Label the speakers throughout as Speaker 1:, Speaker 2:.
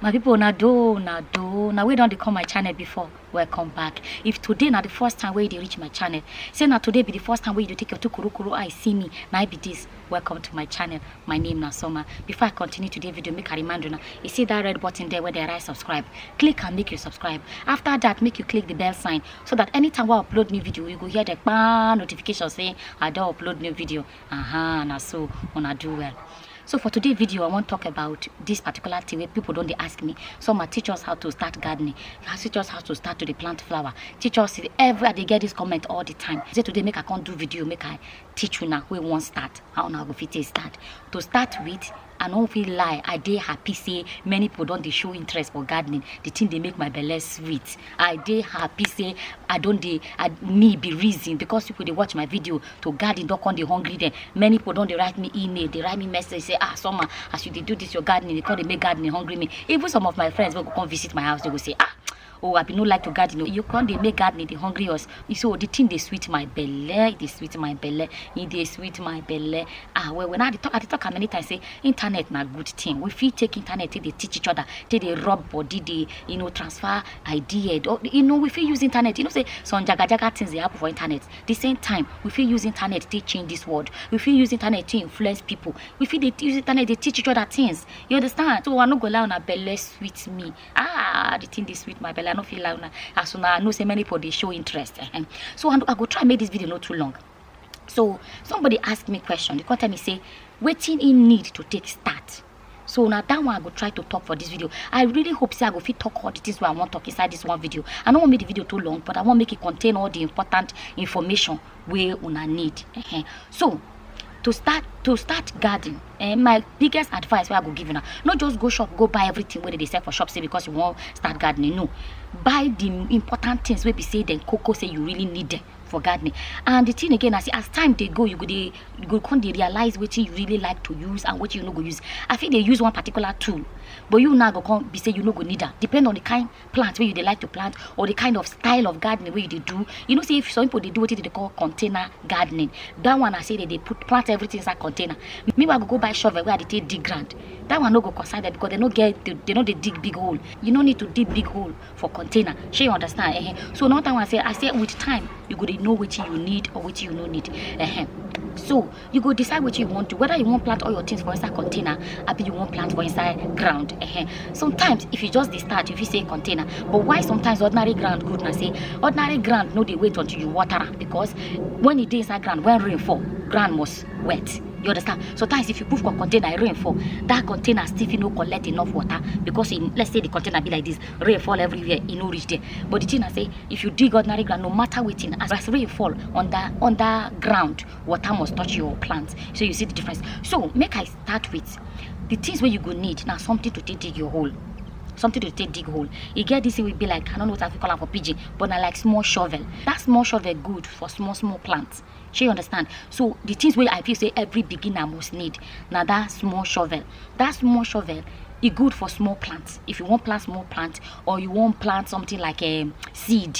Speaker 1: my people na do na do na we don dey come my channel before welcome back if today na the first time wey you dey reach my channel say na today be the first time wey you dey take your two kurukuru eye see me na i be this welcome to my channel my name na soma before i continue today video make i remind una you see that red button there wey dey write subscribe click am make you subscribe after that make you click the bell sign so that anytime I upload new video you go hear the kpaa notification say i don't upload new video aha na so I do well so for today's video i want to talk about this particular thing where people don't ask me some are teach us how to start gardening teach us how to start to the plant flower teach us every they get this comment all the time say today make i can't do video make i teach you now we won't start how now go fit start to start with I no fit lie, I dey happy say many people don dey show interest for gardening. The thing dey make my belle sweet. I dey happy say I don dey, I, me be reason because people dey watch my video to garden don come dey hungry them. Many people don dey write me email, dey write me message say, ah, Summer, as you dey do this your gardening, you come dey make gardening hungry me. Even some of my friends wey go come visit my house, they go say, ah, oh i bin no like to garden o you come dey make gardening dey hungry us so the thing dey sweet my belle e dey sweet my belle e dey sweet my belle ah well well now i dey talk i dey talk am many times say internet na good thing we fit take internet take dey teach each other take dey rub body dey you know transfer idea or you know we fit use internet you know say some jaga jaga things dey happen for internet the same time we fit use internet take change this world we fit use internet take influence people we fit dey use internet dey teach each other things you understand so i no go lie una belle sweet me ah the thing dey sweet my belly i no fit lie una as una know say many people dey show interest eh, eh. so i go try make this video no too long so somebody ask me question they come tell me say wetin he need to take start so na that one i go try to talk for this video i really hope say i go fit talk all the things wey i wan talk inside this one video i no wan make the video too long but i wan make it contain all the important information wey una need uh-huh. so to start to start garden eh, my biggest advice wey i go give una no just go shop go buy everything wey dey sell for shop say because you wan start gardening no buy the important things wey be say dem koko say you really need them for gardening and the thing again i say as time dey go you go dey you go come dey realize wetin you really like to use and wetin you no go use i fit dey use one particular tool but you now go come be say you no go need am depend on the kind plant wey you dey like to plant or the kind of style of gardening wey you dey do you know say if some people dey do wetin dem dey call container gardening that one na say dem dey put plant everything inside container meanwhile go go buy shovel wey i dey take dig ground that one no go concern them because they no get they, they no dey dig big hole you no need to dig big hole for container shey you understand eh so another one say i say with time you go dey know wetin you need or wetin you no need eh so you go decide what you want to whether you want plant all your things for inside container abi you want plant for inside ground uh -huh. sometimes if you just dey start you fit say container but why sometimes ordinary ground good na say ordinary ground no dey wait until you water am because when e dey inside ground when rain fall ground must wet you understand sometimes if you put for container e rain fall that container still fit no collect enough water because e let's say the container be like this rain fall everywhere e no reach there but the thing na say if you dig ordinary ground no matter wetin as rain fall under under ground water must touch your plant so you see the difference so make i start with the things where you go need now something to take dig your hole something to take dig hole You get this thing will be like i don't know what i fit call am for pidgin but na like small shovel that small shovel good for small small plants shey you understand so the things where i feel say every beginner must need now that small shovel that small shovel e good for small plants if you want plant small plant or you want plant something like um, seed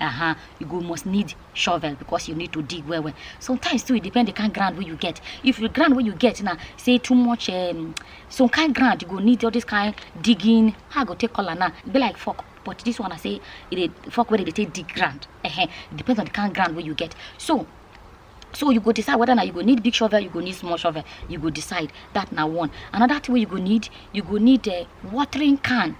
Speaker 1: uh-huh, you go must need shovel because you need to dig well well sometimes too it depend the kind ground where you get if the ground where you get now say too much um, some kind ground you go need all this kind digging how i go take color now be like fuck but this one i say it fuck where they take dig ground uh-huh. it depends on the kind ground where you get so so you go decide whether now you go need big shovel you go need small shovel you go decide that now one another thing you go need you go need a uh, watering can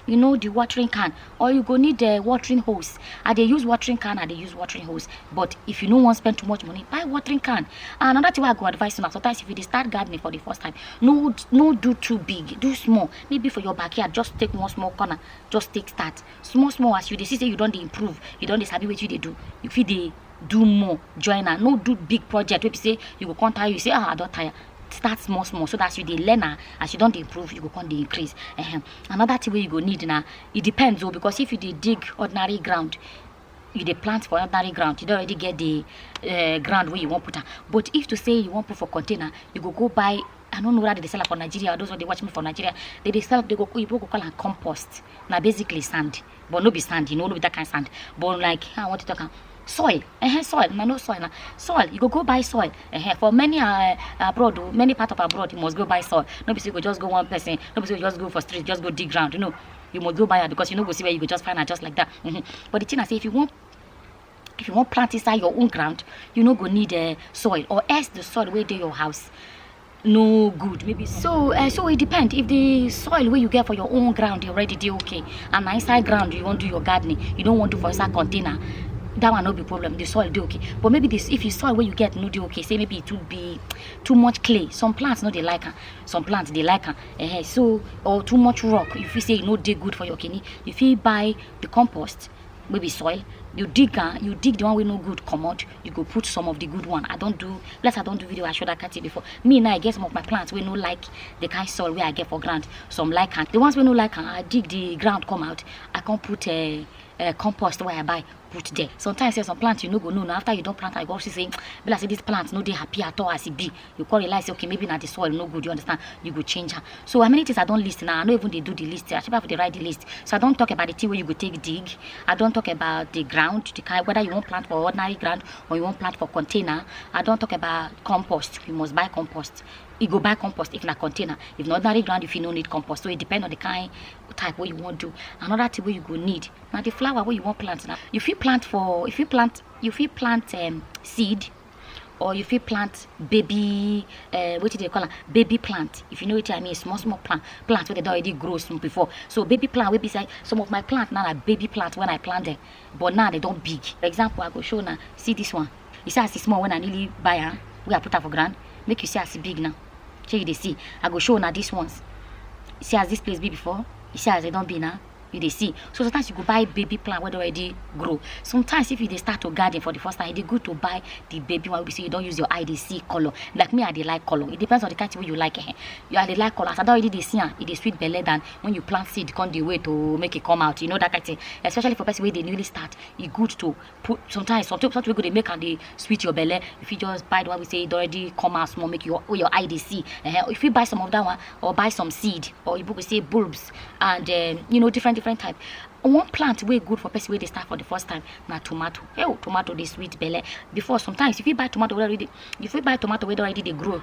Speaker 1: you know the watering can or you go need a uh, watering hose i they use watering can i they use watering hose but if you no want spend too much money buy watering can and another thing i go advise you now sometimes if you start gardening for the first time no no do too big do small maybe for your backyard just take one small corner just take that small small as you they see say you don't improve you don't sabi what you they do you feel they do more join am no do big project wey be say you go come tire you say ah i don tire start small small so that as you dey learn am as you don dey improve you go come dey increase Ehem. another thing wey you go need na e depends o because if you dey dig ordinary ground you dey plant for ordinary ground you don already get the uh, ground wey you wan put am but if to say you wan put for container you go go buy i no know whether they dey sell am for nigeria or those wey dey watch me for nigeria they dey sell they go oyibo go call am compost na basically sand but no be sand you know no be that kind sand but like i want to talk am soil uh-huh, soil na no soil na soil you go go buy soil uh-huh. for many uh, abroad o many part of abroad you must go buy soil no be say you go just go one person no be say you just go for street just go dig ground you know you must go buy am because you no go see where you go just find am just like that uh-huh. but the thing na say if you wan if you wan plant inside your own ground you no go need uh, soil or else the soil wey dey your house no good maybe so uh, so it depends if the soil where you get for your own ground you already do okay and inside ground you want to do your gardening you don't want to for inside container that one not be problem the soil do okay but maybe this if you soil where you get no do okay say maybe it would be too much clay some plants no they like her some plants they like her uh -huh. so or too much rock if you say you know they good for your kidney if you buy the compost wey be soil you dig am you dig the one wey no good comot you go put some of the good one i don do like i don do video i show that kind thing before me now i get some of my plants wey no like the kind soil wey i get for ground some like am the ones wey no like am i dig the ground come out i come put uh, uh, compost wey i buy put there sometimes say some plant you no go know na after you don plant am you go see say be like say this plant no dey happy at all as e be you come realize say okay maybe na the soil no good you understand you go change am so how many things i don list now i no even dey do the list i should have dey write the list so i don talk about the thing wey you go take dig i don talk about the ground the kind whether you wan plant for ordinary ground or you wan plant for container i don talk about compost you must buy compost you go buy compost if na container if na ordinary ground you fit no need compost so e depend on the kind type wey you wan do another thing wey you go need na the flower wey you wan plant na you fit plant for you fit plant you fit plant um, seed or you fit plant baby uh, wetin dey call am baby plant if you know wetin i mean small small plant plant wey dey don already grow small before so baby plant wey be say some of my plant now na baby plant when i plant them but now they don big for example i go show una see this one you see as e small when i newly buy am wey i put am for ground make you see as e big now shey you dey see i go show una this ones you see as this place be before you see as they don be now you dey see so sometimes you go buy baby plant wey don already grow sometimes if you dey start to garden for the first time e dey good to buy the baby one wey be say you don use your eye dey see colour like me i dey like colour it depends on the kind thing wey you like eh you i dey like colour as i don already dey see am e dey sweet belle than when you plant seed come dey wait to make e come out you know that kind thing especially for person wey dey newly start e good to put sometimes something something wey go dey make am dey sweet your belle you fit just buy the one wey say e don already come out small make your wey your eye dey see eh you fit buy some of that one or buy some seed or you go say bulbs and um, you know different different type one plant wey good for person wey dey start for the first time na tomato hey tomato dey sweet belle before sometimes you fit buy tomato wey already you fit buy tomato wey don already dey grow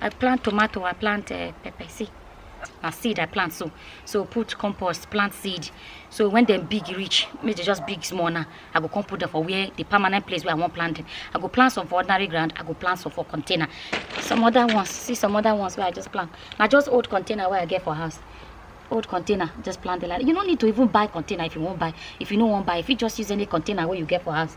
Speaker 1: I plant tomato, I plant uh, pepper. See, na seed I plant so. So put compost, plant seed. So when them big reach, make they just big small now. I go come put them for where the permanent place where I want plant them. I go plant some for ordinary ground. I go plant some for container. Some other ones, see some other ones where I just plant. Now just old container where I get for house. old container just plant the land you no need to even buy container if you wan buy if you no wan buy if you just use any container wey you get for house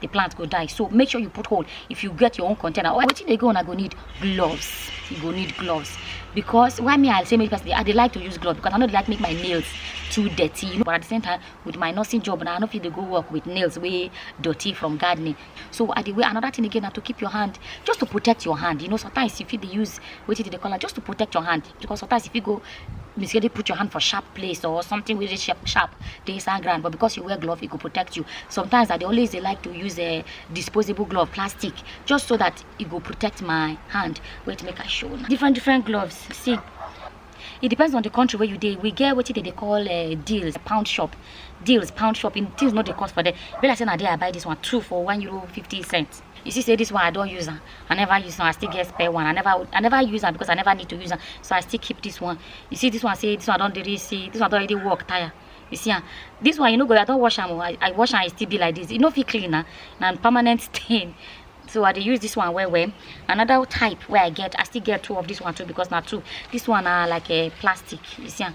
Speaker 1: the plant go die so make sure you put hole if you get your own container or wetin dey go on i go need gloves you go need gloves because why me i say make person i dey like to use gloves because i no dey like make my nails too dirty you know but at the same time with my nursing job na i no fit dey go work with nails wey dirty from gardening so i dey wear another thing again na to keep your hand just to protect your hand you know sometimes you fit dey use wetin dey dey call am just to protect your hand because sometimes you fit go mistakenly put your hand for sharp place or something wey dey sharp sharp dey inside ground but because you wear glove e go protect you sometimes i dey always dey like to use a disposable glove plastic just so that e go protect my hand wait make i show una different different gloves see it depends on the country where you dey we get wetin dem dey call uh, deals pound shop deals pound shop in things no dey cost for there be like say na there i buy this one two for one euro fifty cents you see say this one i don't use am i never use am i still get spare one i never i never use am because i never need to use am so i still keep this one you see this one say this one don't really see this one don't already work tire you see am this one you know go i don't wash am oh. i i wash am e still be like this You know, if you clean am na permanent stain so i dey use this one well well another type where i get i still get two of this one too because not two this one are like a plastic you see am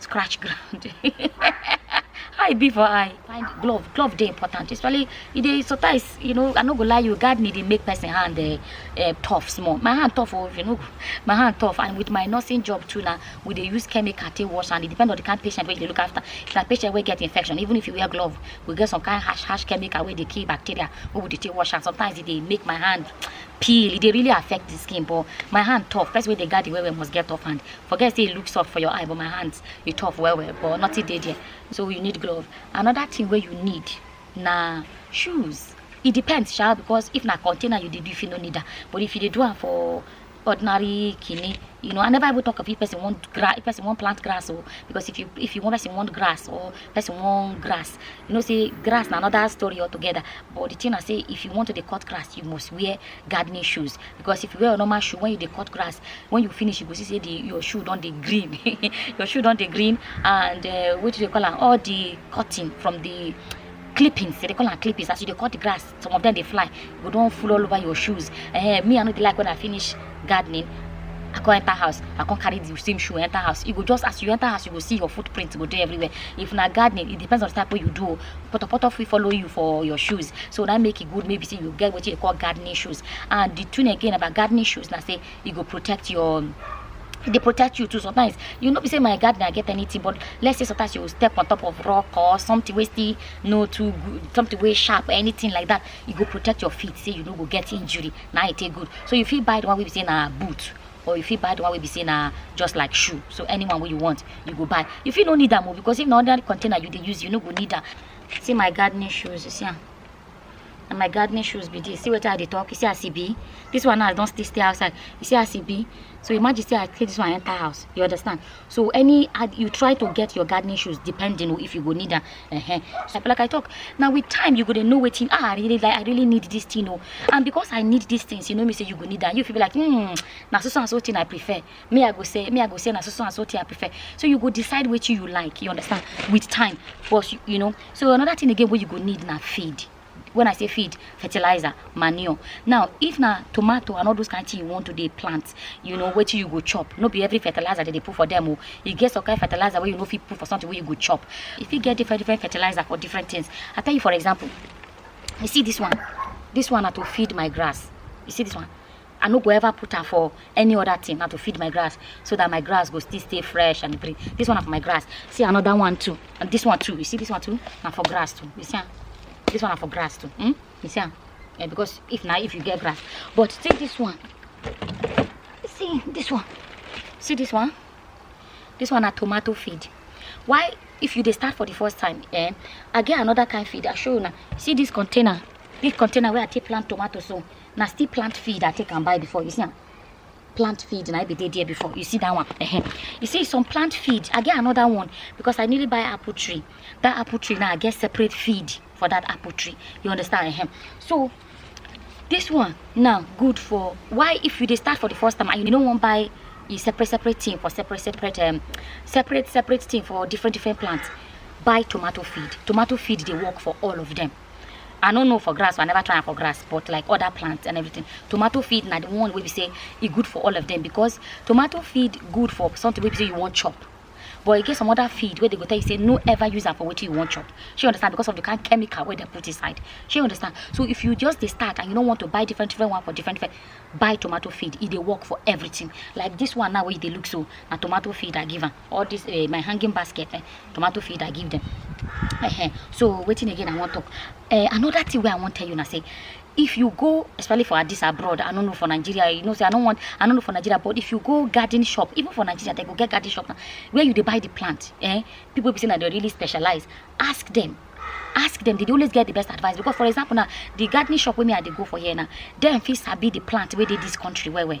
Speaker 1: scratch ground how e be for eye find glove glove dey important especially e dey sometimes you know i no go lie you gardening dey make person hand uh, uh, tough small my hand tough oh you know my hand tough and with my nursing job too na we dey use chemical take wash and e depend on the kind patient wey you dey look after if na patient wey get infection even if you wear glove we get some kind harsh harsh chemical wey dey kill bacteria wey we dey take wash am sometimes e dey make my hand peel e dey really affect the skin but my hand tough person wey dey garden well well must get tough hand forget say e look soft for your eye but my hands e tough well well but nothing dey there so you need glove another thing wey you need na shoes e depend sha because if na container you dey do if you no need am but if you dey do am for ordinary kini you know i never even talk of if person wan grass if person wan plant grass o because if you if you wan person want grass or person wan grass you know say grass na another story altogether but the thing na say if you want to dey cut grass you must wear gardening shoes because if you wear your normal shoe when you dey cut grass when you finish you go see say the your shoe don dey green your shoe don dey green and uh, what do they call am all the cutting from the clippings they call am clippings as you dey cut the grass some of them dey fly you go don full all over your shoes eh me i no dey like when i finish gardening I come enter house, I come carry the same shoe enter house. You go just as you enter house, you go see your footprint go there everywhere. If na gardening, it depends on the type what you do. potopoto fit follow you for your shoes so that make it e good maybe say you get what you call gardening shoes and the thing again about gardening shoes now say it e go protect your they protect you too sometimes you know be say my gardener get anything but let's say sometimes you step on top of rock or something wey still no too good something wey sharp or anything like that e go protect your feet say you no go get injury na e take good so you fit buy the one wey be say na boot or you fit buy the one wey be say na just like shoe so anyone wey you want you go buy you fit no need am o because if na ordinary container you dey use you no go need am see my gardening shoes you see am na my gardening shoes be this see wetin i dey talk you see as e be this one now i don still stay outside you see as e be so imagine say i take this one enter house you understand so any ad you try to get your gardening shoes depending on if you go need am uh -huh. so like i talk now with time you go to know wetin ah i really like i really need this thing oh. and because i need these things you know me say you go need that. you feel like hmm na so so and so thing i prefer me i go say me i go say na so so and so thing i prefer so you go decide which you like you understand with time but you know so another thing again what you go need na feed when i say feed fertilizer manure now if na tomato and all those kind thing you want to dey plant you know wetin you go chop no be every fertilizer dey dey put for them o e get some kind fertilizer wey you no fit put for something wey you go chop e fit get different different fertilizer for different things i tell you for example you see this one this one na to feed my grass you see this one I no go ever put am for any other thing na to feed my grass so that my grass go still stay fresh and green. This one na for my grass. See another one too. And this one too. You see this one too? Na for grass too. You see am? This one na for grass too. Hmm? You see am? Yeah, because if na if you get grass. But see this one. See this one. See this one? This one na tomato feed. Why if you dey start for the first time, eh? I get another kind feed. I show you now. See this container. This container where I take plant tomato so. na still plant feed i take am buy before you see am plant feed na i be dey there before you see that one uh-huh. you see some plant feed i get another one because i nearly buy apple tree that apple tree now i get separate feed for that apple tree you understand uh-huh. so this one now good for why if you dey start for the first time and you no wan buy a separate separate thing for separate separate um, separate separate thing for different different plants buy tomato feed tomato feed dey work for all of them i no know for grass so i never try am for grass but like other plants and everything tomato feed na the one wey be say e good for all of them because tomato feed good for something wey be say you wan chop but e get some other feed wey dey go tell you say no ever use am for wetin you wan chop shey you understand because of the kind chemical wey dem put inside shey you understand so if you just dey start and you no want to buy different different one for different different buy tomato feed e dey work for everything like this one now wey you dey look so na tomato feed i give am all this uh, my hanging basket eh, tomato feed i give them uh -huh. so waiting again i want to. uh, another thing where i want tell you now say if you go especially for this abroad i don't know for nigeria you know say i don't want i don't know for nigeria but if you go garden shop even for nigeria they go get garden shop now where you they buy the plant eh people be saying that they really specialize ask them ask them they always get the best advice because for example now the gardening shop wey me i dey go for here now dem fit sabi the plant where they this country well well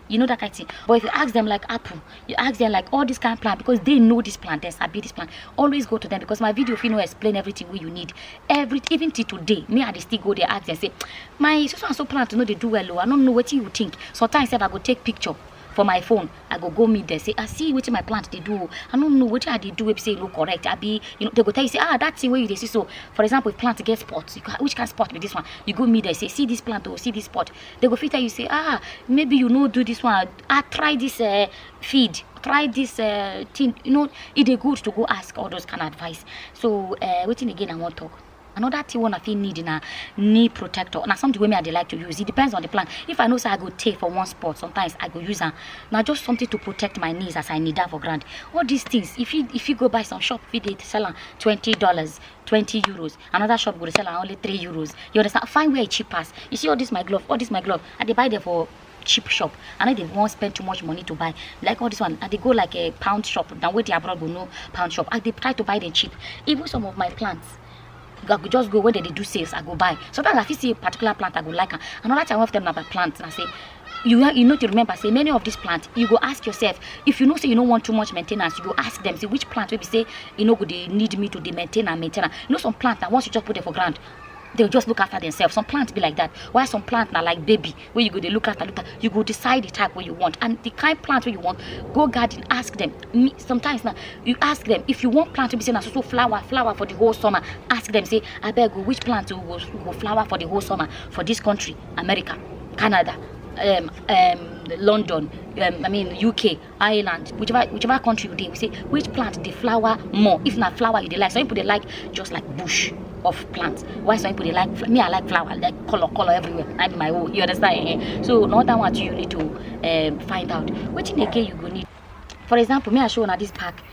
Speaker 1: you know that kind of thing but if you ask them like apple you ask them like all this kind of plant because they know this plant they sabi this plant always go to them because my video if you know explain everything what you need every even till today me i dey still go there ask them say my so and so plant no dey do well o oh, i no know what you think sometimes sef i go take picture for my phone i go go meet them say i ah, see wetin my plant dey do oh. i no know wetin i dey do wey be say e no correct abi you know they go tell you say ah that thing wey you dey see so for example if plant get spot you go which kind spot be this one you go meet them say see this plant o oh, see this spot they go fit tell you say ah maybe you no do this one ah try this uh, feed try this uh, thing you know e dey good to go ask all those kind of advice so uh, wetin again i wan talk another thing one i fit need na knee protector na something wey me i dey like to use it depends on the plan if i know say i go tey for one spot sometimes i go use am na just something to protect my knees as i kneel down for ground all these things if you if you go buy some shop fit dey sell am twenty dollars twenty euros another shop go dey sell am only three euros you understand find where e cheap pass you see all this my glove all this my glove i dey buy them for cheap shop i no dey wan spend too much money to buy like all this one i dey go like a pound shop na wetin abroad go know pound shop i dey try to buy them cheap even some of my plants i go just go when dem dey do sales i go buy sometimes i fit see a particular plant i go like am another time one of them na my plant na say you you know to remember say many of these plants you go ask yourself if you know say you don't want too much maintenance you go ask them say which plant will be say you know go they need me to the maintain and maintain you know some plants that once you just put them for ground they'll just look after themselves some plants be like that why some plants are like baby where you go they look after look after you go decide the type where you want and the kind plant where you want go garden ask them sometimes now you ask them if you want plant to be saying so flower flower for the whole summer ask them say i beg you which plant will, will flower for the whole summer for this country america canada um, um, london um, i mean uk ireland whichever whichever country you dey we say which plant dey flower more if na flower you dey like some people dey like just like bush of plants why some people dey like fl- me i like flower like colour colour everywhere na be my own you understand eh so na that one too you need to um, find out wetin again you go need for example me i show una this pack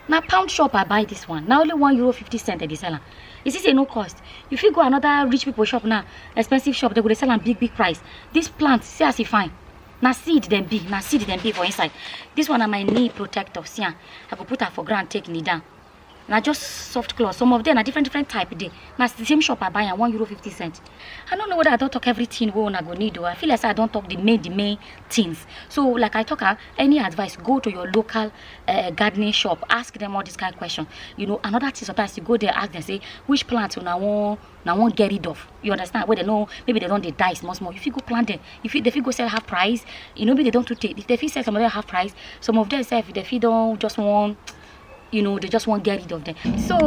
Speaker 1: na pound shop i buy this one na only one euro fifty cent i dey sell am you see say e no cost you fit go another rich people shop now expensive shop they go dey sell am big big price this plant see as e fine na seed dem be na seed dem be for inside this one na my knee protector see am i go put am for ground take knee down na just soft cloth some of them na different different type dey na the same shop i buy am one euro fifty cent i no know whether i don talk everything wey una go need o i feel like say i don talk the main the main things so like i talk am any advice go to your local uh, gardening shop ask them all this kind of question you know another thing sometimes you go there ask them say which plant una wan una wan get rid of you understand wey dem no maybe dem don dey die small small you fit go plant them you fit dem fit go sell half price you know maybe dem don too tey dem fit sell some of them half price some of them sef dem fit don just wan you know they just wan get rid of them so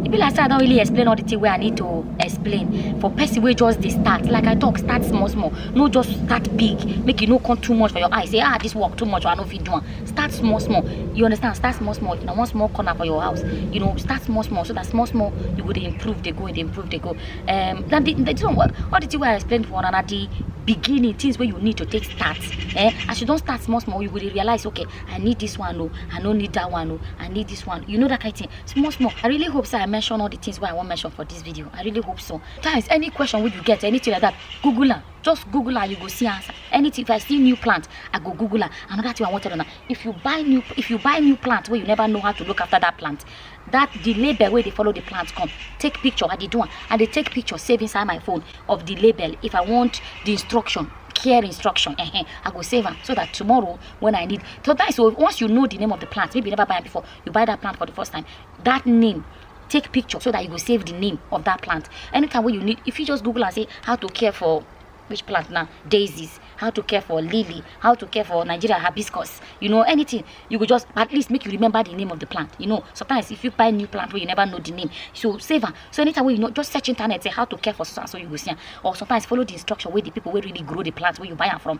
Speaker 1: e be like say i don really explain all the thing wey i need to explain for person wey just dey start like i talk start small small no just start big make e no come too much for your eye say ah this work too much or i no fit do am start small small you understand start small small na one small corner for your house you know start small small so that small small you go dey improve dey go dey improve dey go um na the the thing wey all the thing wey i explain for una na the beginning things wey you need to take start eh as you don start small small you go dey realize okay I need this one, oh, I don't need that one, oh, I need this one. You know that kind of thing. Small, small. I really hope so I mention all the things why I want mention for this video. I really hope so. Guys, any question would you get, anything like that, Google her. Just Google her, you go see answer. Anything, if I see new plant, I go Google her. Another thing I wanted to know, if you buy new, if you buy new plant where you never know how to look after that plant, that the label where they follow the plant come take picture i dey do am i dey take picture save inside my phone of the label if i want the instruction care instruction uh -huh, i go save am so that tomorrow when I need. Sometimes so once you know the name of the plant, maybe you never buy it before, you buy that plant for the first time. That name take picture so that you will save the name of that plant anytime when you need if you just google and say how to care for which plant now daisies how to care for lily how to care for nigeria hibiscus you know anything you could just at least make you remember the name of the plant you know sometimes if you buy new plant where you never know the name so save am so anytime when you know just search internet say how to care for so and so you go see am or sometimes follow the instruction where the people where really grow the plant where you buy am from